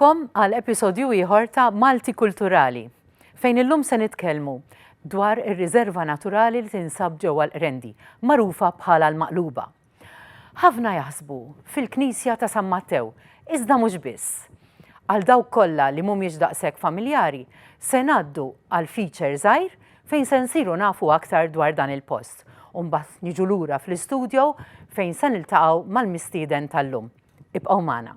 Bkom għal episodju ieħor ta' Malti Kulturali, fejn illum se nitkellmu dwar ir-riżerva naturali li tinsab ġewwa l-Qrendi, magħrufa bħala l-Maqluba. Ħafna jaħsbu fil-Knisja ta' San Mattew, iżda mhux biss. Għal dawk kollha li mhumiex daqshekk familjari, se ngħaddu għal feature żgħir fejn se nsiru nafu aktar dwar dan il-post, u mbagħad niġu lura fl-istudio fejn se niltaqgħu mal-mistieden tal-lum. Ibqgħu magħna.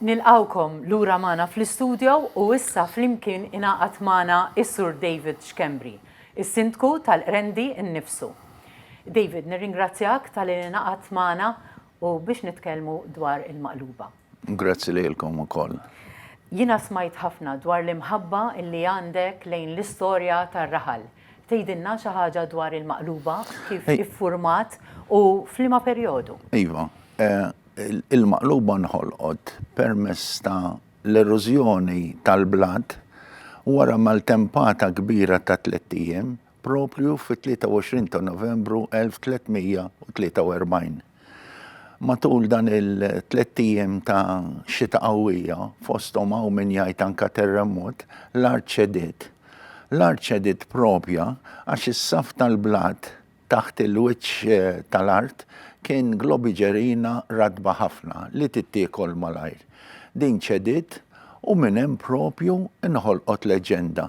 Nilqgħukom lura magħna fl-istudio u issa flimkien ingħaqad magħna s-Sur David Schembri, is-Sindku tal-Qrendi nnifsu. David, nirringrazzjak talli ingħaqadt magħna u biex nitkellmu dwar il-Maqluba. Grazzi lilkom ukoll. Jiena smajt ħafna dwar l-imħabba li għandek lejn l-istorja tar-raħal. Tgħidilna xi ħaġa dwar il-Maqluba, kif iffurmat u f'liema perjodu? Iva. Il-Maqluba nħolqot permezz ta' l-erożjoni tal-blat wara maltempata kbira ta' tlett ijiem proprju fit-23 ta' Novembru 1343. Matul dan il-tlett ijiem ta' xita qawwija, fosthom hawn min jgħid anke terremot, l-art ċediet. L-art ċediet proprja għax is-saff tal-blat taħt il-wiċċ tal-art kien globiġerina ratba ħafna li tittiekol malajr. Din ċediet u minn hemm proprju nħolqot leġġenda.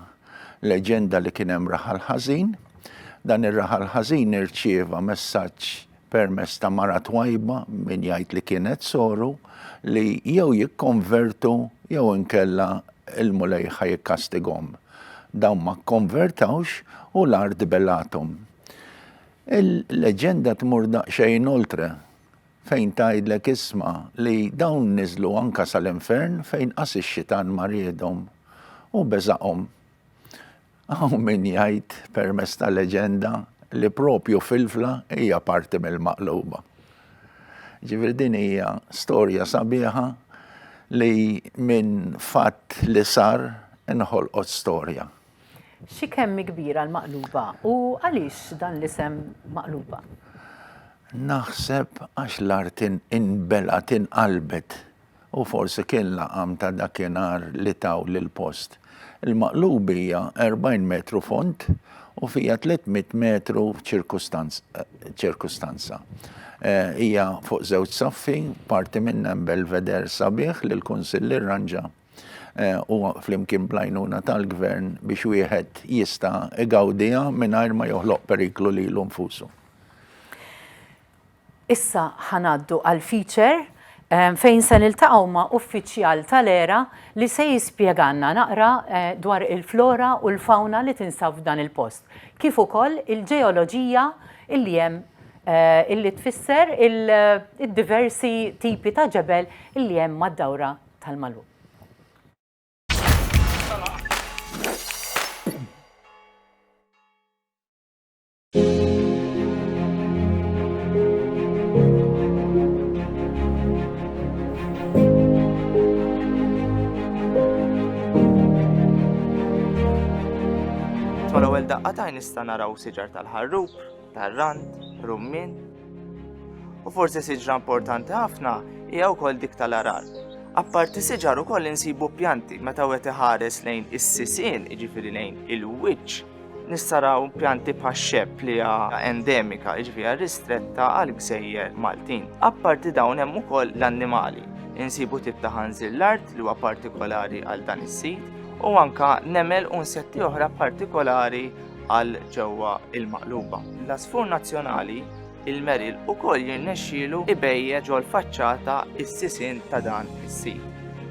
leġenda li kien hemm raħal ħażin. Dan ir-raħal ħażin irċieva messaġġ permess ta' mara twajba min jgħid li kienet soru li jew jikkonvertu jew inkella il-Mulej ħa jikkastigom. Dawn ma kkonvertawx u l-art belathom. Il-leġenda tmur daqsxejn oltre fejn tgħidlek isma' li dawn niżlu anke sal-infern fejn qas ix-xitan ma riedhom u beżaqhom. Hawn min jgħid, permezz ta' leġenda, li proprju filfla hija parti mill-maqluba. Ġifieri din hija storja sabiħa li minn fatt li sar inħolqot storja. Xi kemm hi kbira l-Maqluba u għaliex dan l-isem Maqluba? Naħseb għax l-art inbelgħet inqalbet u forsi kien laqam ta' dakinhar li taw lill-post. Il-Maqluba hija 40 metru fond u fiha 300 metru ċirkustanza. Hija fuq żewġ saffi, parti minnha hemm belvedere sabiħ li l-Kunsill irranġa. u flimkien bl-għajnuna tal-Gvern biex wieħed jista' igawdiha mingħajr ma joħloq periklu lilu nfusu. Issa ħa ngħaddu għall-feature fejn se niltaqgħu ma' uffiċjal tal-ERA li se jispjegalna naqra dwar il-flora u l-fawna li tinsab f'dan il-post, kif ukoll il-ġeoloġija li hemm li tfisser id-diversi tipi ta' ġebel li hemm mad-dawra tal-magħluq. Mal-ewwel daqqa t'għajn nista' naraw siġar tal-ħarrub. tar-rand, rummin, u forsi siġra importanti ħafna hija wkoll dik tal-arar. Apparti siġar ukoll insibu pjanti meta wieħed iħares lejn is-sisien, jiġifieri lejn il-wiċċ, nistaraw pjanti bħax-xepp li hija endemika, jiġifieri ristretta għal gżejjer Maltin. Apparti dawn hemm ukoll l-annimali. Insibu tip ta' ħanżil l-art li huwa partikolari għal dan is-sit u anka nemel u nsetti oħra partikolari għal ġewwa l-Maqluba. L-għasfur nazzjonali, il-meril ukoll jirnexxielu ibejje ġol-faċċata s-sisien ta' dan is-sit.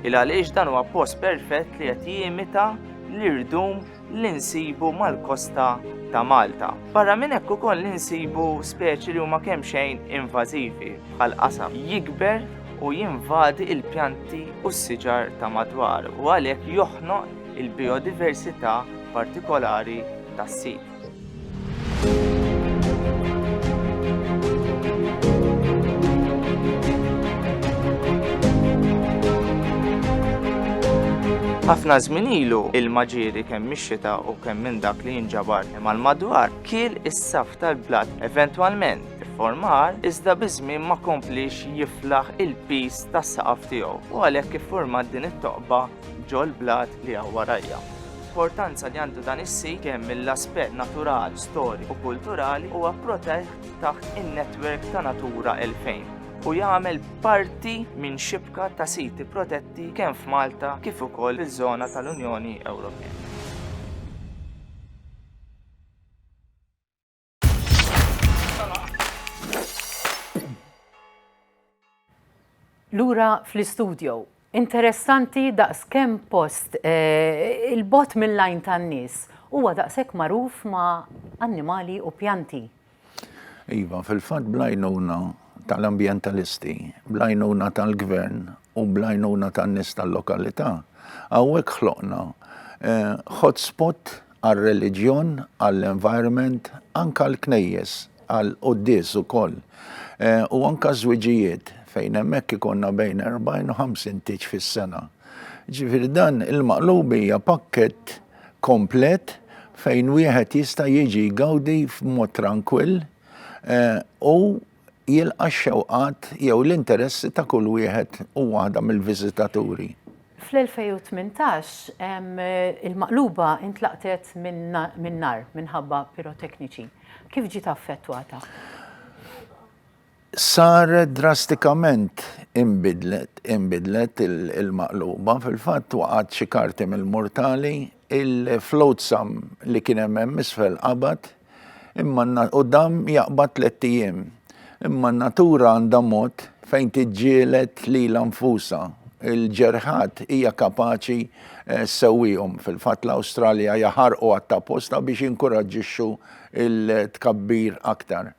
Il għaliex dan huwa post perfett li qed jimita l-irdum li nsibu mal-kosta ta' Malta. Barra minn hekk ukoll li nsibu speċi li huma kemm xejn invażivi bħal qasam jikber u jinvadi il-pjanti u s-siġar ta' madwar u għalhekk joħnoq il-bijodiversità partikolari tas-sit. Ħafna żmien ilu il-maġiri kemm mix-xita u kemm minn dak li jinġabar mal-madwar kiel is-saf tal-blat eventwalment formar iżda biż-żmien ma kompliex jiflaħ il-piż tas-saqaf tiegħu u għalhekk iffurmat din it-toqba ġol-blat li hawn warajja. L-importanza li għandu dan is-sit kemm mill-aspett natural, storiku u kulturali huwa protett taħt in-netwerk ta' Natura 2000 u jagħmel parti minn xibka ta' siti protetti kemm f'Malta kif ukoll fiż-żona tal-Unjoni Ewropea. Lura fl-istudjo, interessanti daqs kemm post eh, il-bot mill-lajn tan-nies huwa daqshekk magħruf ma' annimali u pjanti. Iva, fil-fatt blajnuna tal-ambjentalisti, blajnuna tal-gvern u blajnuna tan-nies tal-lokalità, hawnhekk ħloqna eh, hotspot għar-reliġjon, għall-environment, anke għall-knejjes, għall-quddies ukoll, u anke ż-żwiġijiet fejn hemmhekk ikollna bejn 40 u 50 tieġ fis-sena. Ġifieri dan il-maqluba hija pakkett komplet fejn wieħed jista' jiġi jgawdi f'mod trankwill u jilqa' x-xewqat jew l-interessi ta' kull wieħed u waħda mill-viżitaturi. Fl-2018, il-Maqluba intlaqtet min-nar minħabba pirotekniċi. Kif ġiet affettwata? Saret drastikament inbidlet il-Maqluba. Fil-fatt waqgħet xi karti mill-murtali, il-flotsam li kien hemm hemm isfel qabad, Imma u dam jaqbad tlett ijiem. Imma n-natura għandha mod fejn tiġġieled lilha nfusha. Il-ġerħat hija kapaċi eh, ssewwihom. Fil-fatt l-Awstralja jaħarqu għat-taposta biex jinkuraġġixxu il-tkabbir aktar.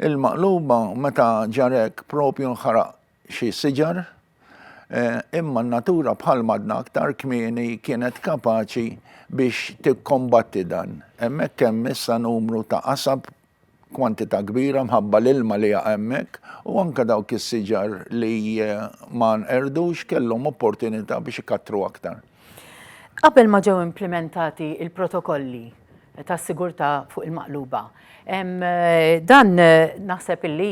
Il-maqluba meta ġarek propju nħaraq xi siġar, imma n-natura bħal m'għadna aktar kmieni kienet kapaċi biex tikkombatti dan. Hemmhekk hemm issa numru ta' qasab kwantità kbira mħabba l-ilma li jaqa' hemmhekk u anke dawk is-siġar li ma nqerdux kellhom opportunità biex ikattru aktar. Qabel ma ġew implimentati l-protokolli ta' sigurtà fuq il-maqluba. Dan naħseb illi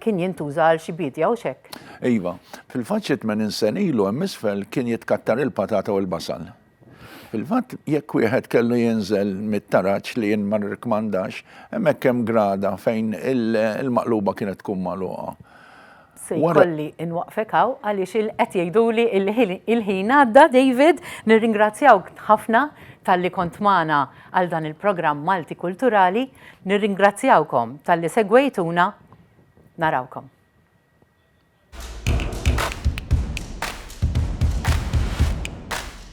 kien jintuża għal xi biedja hux hekk? Iva. Fil-fatt xi tmenin sen ilu hemm isfel kien jitkattar il-patata u l-basal. Fil-fatt jekk wieħed kellu jinżel mit-taraġ li jien ma nirrikmandax, hemmhekk hemm grada fejn il-maqluba kienet tkun magħluqa. Se jkolli inwaqqfek hawn għaliex qed jgħiduli il-ħin għadda David, nirringrazzjawk ħafna talli kont magħna għal dan il-programm Malti Kulturali, nirringrazzjawkom talli segwejtuna, narawkom.